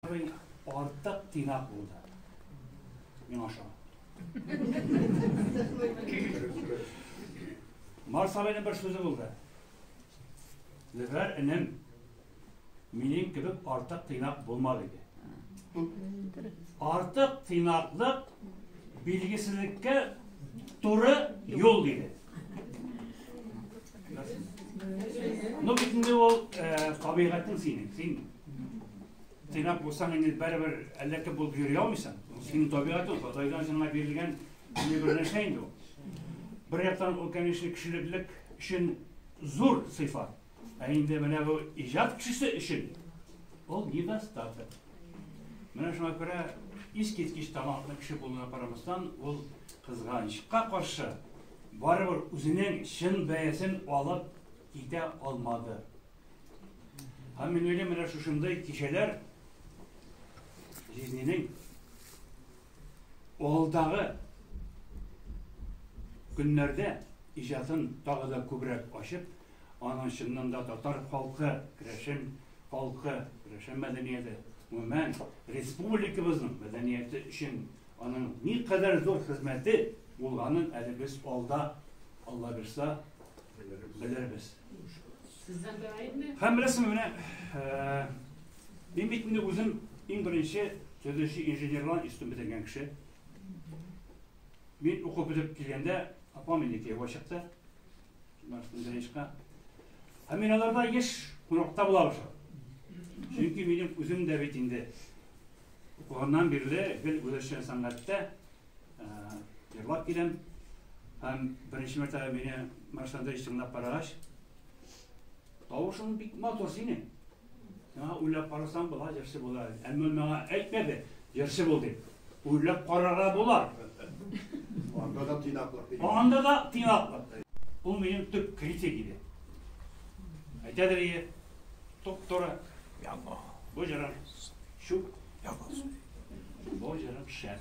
Абый артык тыйнак булды миңа ошамый. Марс абыйның бер сүзе булды. Зөфәр энем, минем кебек артык тыйнак булма диде. Артык тыйнаклык билгесезлеккә туры юл диде. Ну бит инде ул табигатьнең синең, син Тыйнак булсаң инде бәребер әллә кем булып йөри алмыйсың. Синең табигатың Ходайдан сиңа бирелгән бер нәрсә инде ул. Бер яктан ул, конечно, кешелек өчен зур сыйфат. Ә инде менә бу иҗат кешесе өчен ул недостаток. Менә шуңа күрә искиткеч талантлы кеше булуына карамастан, ул кызганычка каршы барыбер үзенең чын бәясен алып китә алмады. Һәм минем менә шушындай кичәләр жизненең алдагы көннәрдә иҗатын тагы да күбрәк ачып, аның чыннан да татар халкы, керәшен халкы, керәшен мәдәнияте, гомумән республикабызның мәдәнияте өчен аның ни кадәр зур хезмәте булганын әле без алда Алла бирса белербез. Һәм беләсең менә мин бит инде үзем иң беренче төзүче инженерлар институтын бетергән кеше. Мин укып бетеп килгәндә апам инде кияүгә чыкты. Мәрхүмдәнешкә. Һәм мин аларда еш кунакта була башладым. Чөнки минем үзем дә бит инде укуганнан бирле гел үзешчән сәнгатьтә Йырлап киләм. Һәм беренче мәртәбә мине Марш Андреевич тыңлап карагач, тавышың бик матур синең. Миңа уйлап карасаң була, җырчы була. Әмма миңа әйтмәде, җырчы бул дип. Уйлап карарга була. Анда да тыйнаклык. Анда да тыйнаклык. Ул минем төп критик иде. Әйтәдер иде, туп-туры. Бу җырын чүп Бу җырым шәп.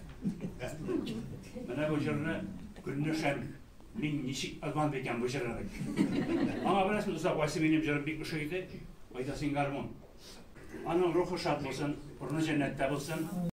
Менә бу җырны Гөлнәшәм мин ничек азман икән бу җырны. Аңа беләсең, озак вайсы минем җырым бик ошый иде. Кайда син гармун? Аның рухы шат булсын, урыны җәннәттә булсын.